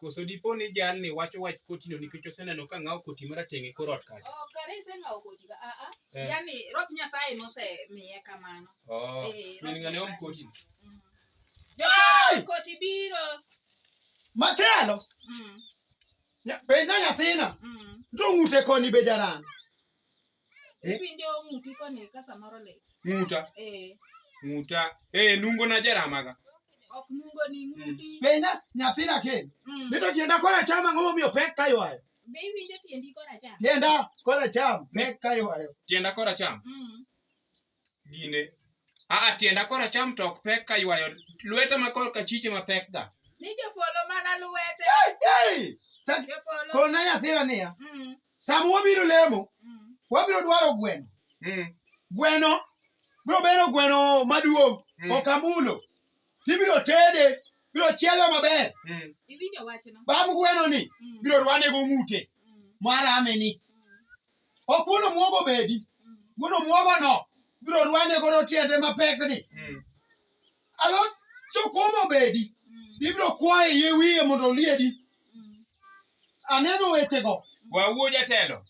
Koso dipo ni jalni wacho wach kotino nikech oseneno ka ng'awo koti marateng' e kor ot kacha? Oh, kare iseng'awo koti ka aa. Eh. Yaani rob Nyasaye mosemiye kamano. Oh, Eh, min ng'ane om koti. Mm. Jokoro koti biro. Machielo, Mm, nya- penj na nyathina, mm. to ng'ute koni be jaran. Eh? Winjo ng'uti koni ka samoro lit. Ng'uta. Eh. Ng'uta. Eh, nungo na jaramaga. Ok nungo ni mm. ng'uti. Mm. Penja nyathina ken. Mm. Bito tienda kora chama ngomo miyo pek kayo ayo. Be iwinjo tiendi kora cham? Tienda kora cham pek kayo ayo. Tienda kora cham. Mm. gine aa tienda koracham to ok pek ka ywayo lweta ma korka chiche ma pek ga Ni jopolo mana lwete. Jopolo. kona nyathina niya Mm, sama wabiro lemo mm. wabiro dwaro gweno Mm, gweno biro bedo gweno maduong' Mm. ok amulo tibiro tede biro chiele maber mm, Iwinjo wachno? bam gwenoni Mm, biro rwane go ng'ute mm, marame ni mm. ok wuon omuogo bedi wuon omuogo no biro rwane godo tiende mapek ni alot sukuma obedi ibiro kwaye yie wiye mondo oliedi aneno wechego Wawuo jatelo.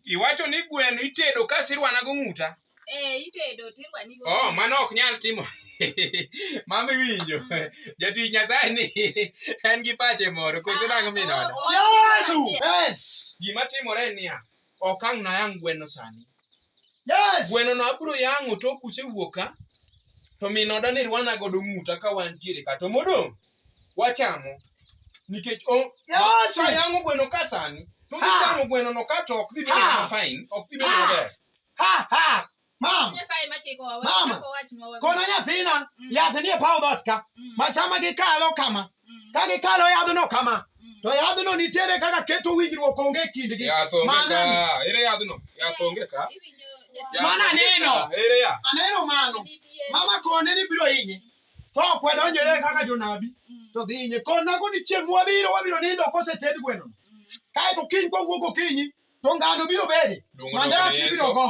Iwacho ni gweno itedo ka sirwana go ng'uta. Eh, itedo tirwani go. Oh, mano ok nyal timo. Mama iwinjo. Jatich Nyasaye ni en gi pache moro koso nang'o minono. Yesu! Yes! Gima timore niya, ok ang' nayang' gweno sani. Yes! Gweno no abiro yang'o tok usewuok ka to minoda ni rwana godo ng'uta ka wantiere ka to modong' wachamo nikech o Yesu! ka yang'o gweno ka sani to dhi Ha! chamo gweno no ka to ok dhi bedo Ha! ma fine, ok dhi bedo Ha! maber. ha ha mama Nyasaye machiko wa Mama, wachako wachnwa wabi. kono nyathina Mm. yath nie paw dhoot ka Mm, machama gikalo kama mm, ka gikalo yadhno kama mm. to yadhno nitiere kaka keto winjruok onge e kindgi Yath onge Mano ka. ni- Ere yadhno? Yath onge ka. Iwinjo Yath jatich Mana onge neno. ka. Ere yath? aneno mano nitie. mama kone ni biro hinye to ok wadonjore kaka jonabi Mm, to dhi hinye konago ni chieng' mwabiro wabiro nindo koseted gweno mm, kaeto kiny kwawuok okinyi To ngano biro bedi. Dongo dog ne Mandas Yesu. ibiro go.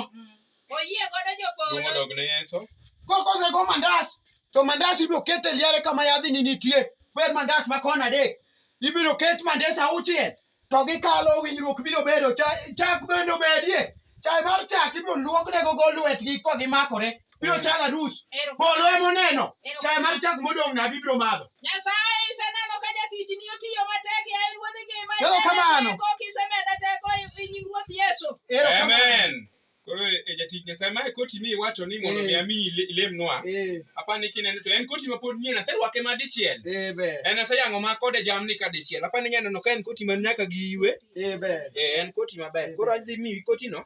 Oyie godo Dongo jopolo. dog ne Yesu. Ko kosego mandas to mandas ibiro ket e liare kama yadhini nitie. Ber mandas ma kona adek. Ibiro ket mandas auchiel to gikalo winjruok biro bedo. Cha- Chak bende obedie. Chai mar chak ibiro luoknego go lwetgi ka gimakore. biro chalo arus Ero- polo ema oneno Ero- chai mar chak modong' nabi biro madho Nyasaye iseneno ka jatichni otiyo matek ya en wuodh ngima. Ero Imedo kamano. teko, kisemeda teko e- e nying Ruoth Yesu. erokamano Amen. Koro e jatich Nyasaye mae koti mi iwacho ni mondo Eh. mi ami ile- ilemnwa. Eh, Apa ni kineno to en koti ma pod nyien aserwake ma dichiel. eh, ber En aseyang'o ma kode jamni ka dichiel. Apa ni nyaneno ka en koti ma nyaka gi iwe. eh, ber Eh, en koti maber. Koro adhi miyi kotino.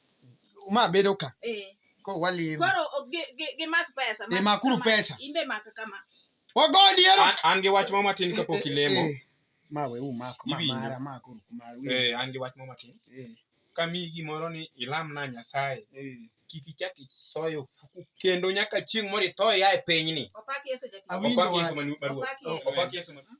ma bedo ka Eh. ko walimo Koro o- gi- gi- gimak pesa. Eh, makuru kama. pesa. In be mak kama. wagoni ero An- an gi wach moro matin kapok ilemo Eh, ma we umako ma Iwinjo. mara ma kuru kumar wi Eh, an gi wach moro matin Eh, kamiyi gimoro ni ilamna nyasaye eh. kik ichak isoyo ofuku kendo nyaka chieng' moro itho ia e pinyni Opak Yesu jatich. Awinjo opak yesu wach. manu- maruoth Opak Yesu. opak yesu manu-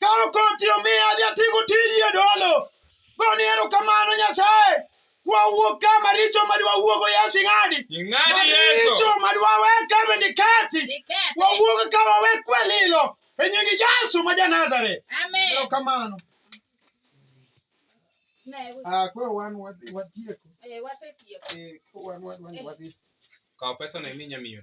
Kalo koti omiya adhi atigo tiji e dolo. Goni erokamano Nyasaye. Wawuok ka maricho madwa wuogo Yesu ing'adi. Ing'adi Yesu. Maricho madwa we kama ni kathi. Nikethe. Wawuog ka wawe kwelilo. E nying Yesu ma ja Nazareth. Amen. Erokamano. Ne, Ah, koro wan wadhi watieko. eh, wasetieko. Eh, koro wan wan wan wadhi. Kaw pesa na imi nyamiyo.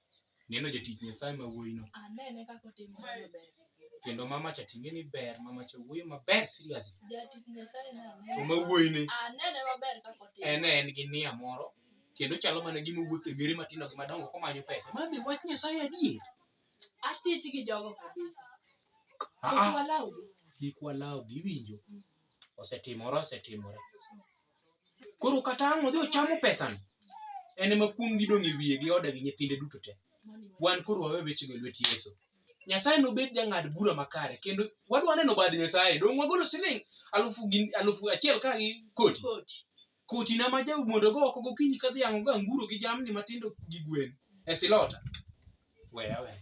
Neno jatich Nyasaye ma wuoyino. Anene kaka otimo maber. Kendo mama cha ting'e ni ber, mama cha wuoyo maber seriously. Jatich Nyasaye na anene. To ma wuoyine. Anene maber kaka otimo. En en gi nia moro kendo chalo mana gima owuotho e miere matindo gi madongo komanyo pesa. Mami wach Nyasaye adier. Achich gi jogo kabisa. Ah, ah. Kik walawgi iwinjo. Mm. Osetimore osetimore. koro kata ang' odhi ochamo pesano en ema kuom gidong' e wiye gi ode gi nyithinde duto te wan koro wawe wechego e lwet yesu nyasaye nobed jang'ad bura makare kendo wadwa neno bad nyasaye dong' wagolo siling' alufu gi- alufu achiel ka gi koti Koti. koti na ma jau mondo go oko gokinyi ka dhiang' go anguro gi jamni matindo gi gwen e silota weya weya